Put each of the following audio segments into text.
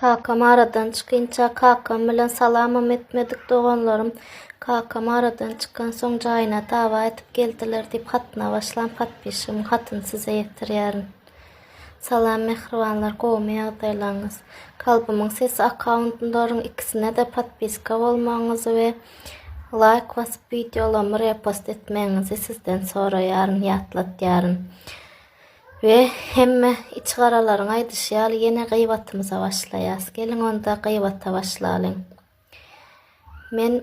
Kakam aradan çykynça kakam bilen salamam etmedik doganlarym kakam aradan çykansoň jaýyna dawa edip geldiler diýip hatyna başlan podpişigimiň hatyny size ýetirýärin. Salam mähribanlar gowumy ýagdaýlaryňyz. Kalbymyň sesi akkaundlaryň ikisine-de podpiska bolmagyňyzy we laýk basyp wideolamy repost etmegiňizi sizden soraýaryn, ýatlatýaryn. We hemme içigaralaryň aýdyşy ýaly ýene gyýbatymyza başlaýas. Geliň onda gyýbata başlalyň. Men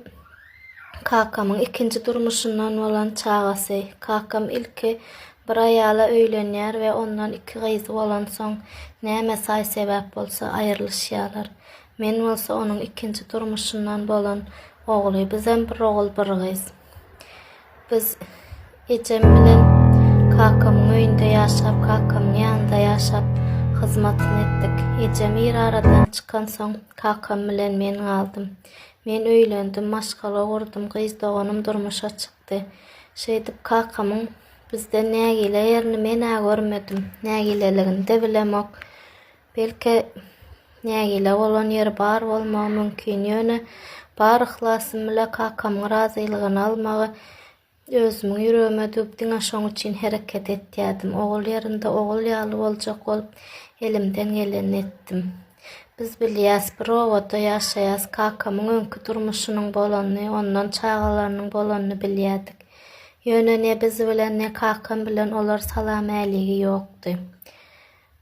kakamyň ikinji durmuşyndan bolan çagasy. Kakam ilki bir aýala öýlenýär we ondan iki gyzy bolan soň näme saý sebäp bolsa aýrylyşýarlar. Men bolsa onuň ikinji durmuşyndan bolan ogly. Bizem bir ogul bir gyz. Biz ejem bilen kakamyň öýünde ýaşap, kakamyň ýanynda ýaşap hyzmatyny etdik. Ejem ir aradan çykan soň kakam bilen men galdym. Men öýlendim, maşgala gurdum, gyz doganym durmuşa çykdy. Şeýdip kakamyň bizden nägile ýerini men-ä görmedim. Nägileligini-de bilemok. Belki, nägile bolan ýeri bar bolmagy mümkin, ýöne bar yhlasym bile kakamyň razylygyny almagy özümiň ýüregime düwüp, diňe şoň üçin hereket etýärdim. Ogul ýerinde ogul ýaly boljak bolup, elimden gelenini etdim. Biz bilýäs, bir obada ýaşaýas, kakamyň öňki durmuşynyň bolanyny, ondan çagalarynyň bolanyny bilýärdik. Ýöne ne biz bilen, ne kakam bilen olar salam-äligi ýokdy.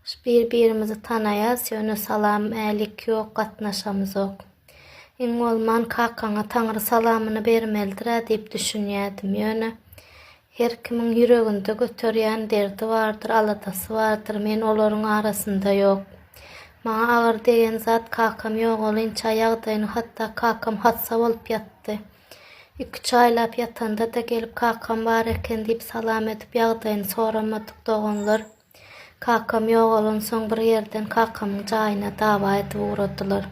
Biz bir birimizi tanaýas ýöne salam älik ýok gatnaşamyzok. Iň bolman kakaňa taňry salamyny bermelidirä diýip düşünýädim ýöne her kimiň ýüreginde göterýän derdi bardyr aladasy bardyr men olaryň arasynda ýok. Maňa agyr degen zat kakam ýogalynça ýagdaýyny hatda kakam hassa bolup ýatdy. Iki üç aýlap ýatanda-da gelip kakam bar eken diýip salam edip ýagdaýyny soramadyk doganlar. Kakam ýogalansoň bir ýerden kakamyň jaýyna dawa edip ugradylar.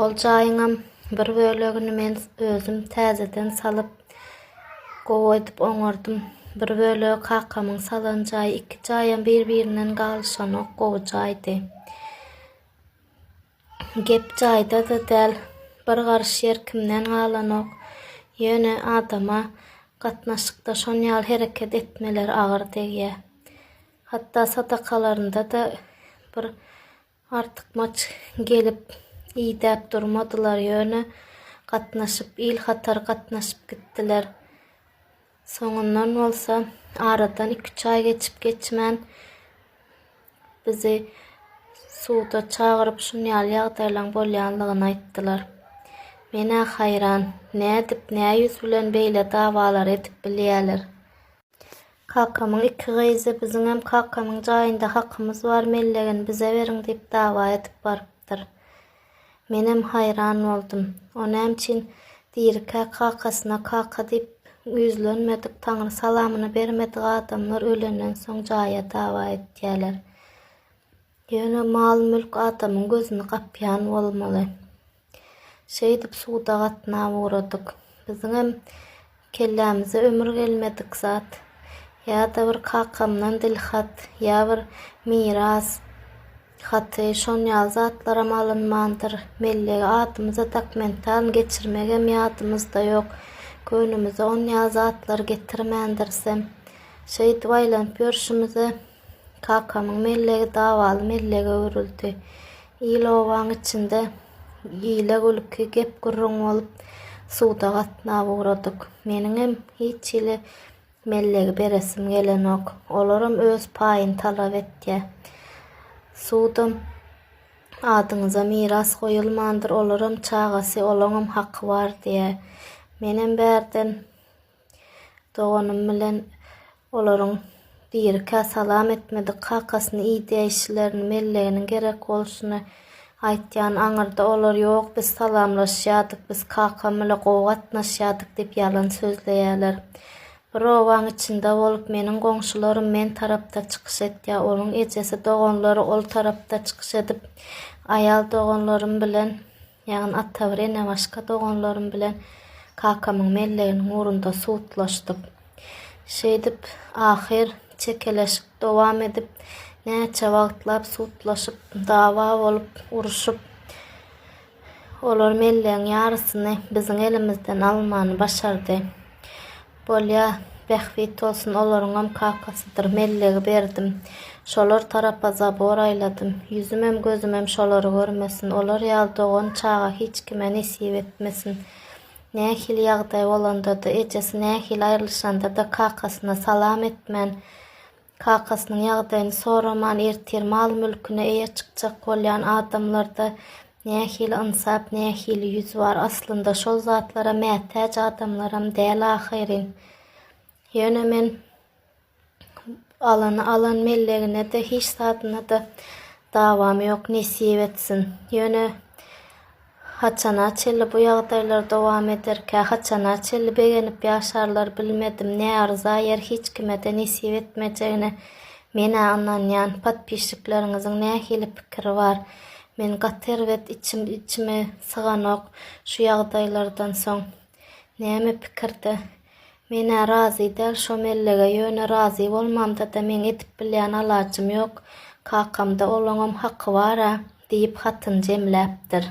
Ol jaýyňam bir bölegini men özüm täzeden salyp, gowy edip oňardym. Bir bölegi kakamyň salan jaýy, iki jaýam bir-birinden galyşanok, gowy jaýdy. Gep jaýda-da däl. Bir garyş ýer kimden galanok. Ýöne adama gatnaşykda şonýaly hereket etmeler agyr degýär. Hatda sadakalarynda-da bir artykmaç gelip, idäp durmadylar, ýöne gatnaşyp, il hatary gatnaşyp gitdiler. Soňundan bolsa, aradan iki-üç aý geçip-geçmän, bizi suda çagyryp, şuny ýaly ýagdaýlaryň bolýanlygyny aýtdylar. Men-ä haýran, nädip, nä ýüz bilen beýle dawalary edip bilýäler? Kakamyň iki gyzy biziňem kakamyň jaýynda hakymyz bar, mellegini bize beriň diýip dawa edip barypdyr. Menem haýran boldum. O näme üçin dirikä kakasyna kaka diýip ýüzlenmedik, taňry salamyny bermedik adamlar ölenden soň jaýa dawa etýäler. Ýöne mal-mülk adamyň gözüni gapýan bolmaly. Şeýdip suda gatnap ugradyk. Biziňem Kellämize ömür gelmedik zat. Ýa-da bir kakamdan dilhat, ýa bir miras haty, şon ýaly zatlaram alynmandyr. Mellegi adymyza dokmentan geçirmegem ýadymyzda ýok. Köynümize on ýaly zatlar getirmändirisem. Şeýdip aýlanyp ýörşümize. Kakamyň mellegi dawaly mellege öwrüldi. Il-obaň içinde gile-gülki, gep-gürrüň bolup, suda gatnap ugradyk. Meniňem hiç hili mellegi beresim gelenok. Olaram öz paýyny talap etýä. Sudam adyňyza miras goýulmandyr, olaram çagasy, olaňam haky bar diýä. Menem bärden Doganym bilen olaryň birikä salam etmedik kakasyny iýdäýişlerini, melleginiň gerek bolşuny aýtýan aňyrda olar ýok biz salamlaşýardyk, biz kakam bile gowy gatnaşýardyk diýip ýalan sözleýärler. Bir obaň içinde bolup meniň goňşularym men tarapda çykyş etýär, olyň ejesi doganlary ol tarapda çykyş edip aýal doganlarym bilen Ýaňy Atawr ene başga doganlarym bilen kakamyň melleginiň ugrunda sudlaşdyk. Şeýdip, ahyr çekeleşik dowam edip, näçe wagtlap sudlaşyp, dawa bolup, uruşyp, olar mellegiň ýarysyny biziň elimizden almany başardy. Bolýa, bähbit bolsun, olaryňam kakasydyr, mellegi berdim. Şolar tarapa zabor aýladym. Ýüzümem, gözümem şolary görmesin. Olar ýaly dogan çaga hiç kime nesip etmesin. Nähili ýagdaý bolanda-da, ejesi nähili aýrylyşanda-da kakasyna salam etmän, Kakasynyň ýagdaýyny soraman ertir mal-mülküne eýe çykjak bolýan adamlarda nähili ynsap, nähili ýüz bar? Aslynda şol zatlara mätäç adamlaram däl ahyryn. Ýöne men alany alan mellegine-de, hiç zadyna-da dawam ýok, nesip etsin. Ýöne Haçana çenli bu ýagdaýlar dowam ederkä, haçana çenli begenip ýaşarlar bilmedim, ne arza ýer hiç kimede nesip etmejegine menä ynanýan, podpisçikleriňiziň nähili pikiri bar, men gaty erbet içim içime syganok şu ýagdaýlardan soň. Näme pikirde? Men-ä razy däl şo mellege, ýöne razy bolmamda-da meň edip bilýän alajym ýok. Kakam-da, olaňam haky bar-a, diýip hatyny jemläpdir.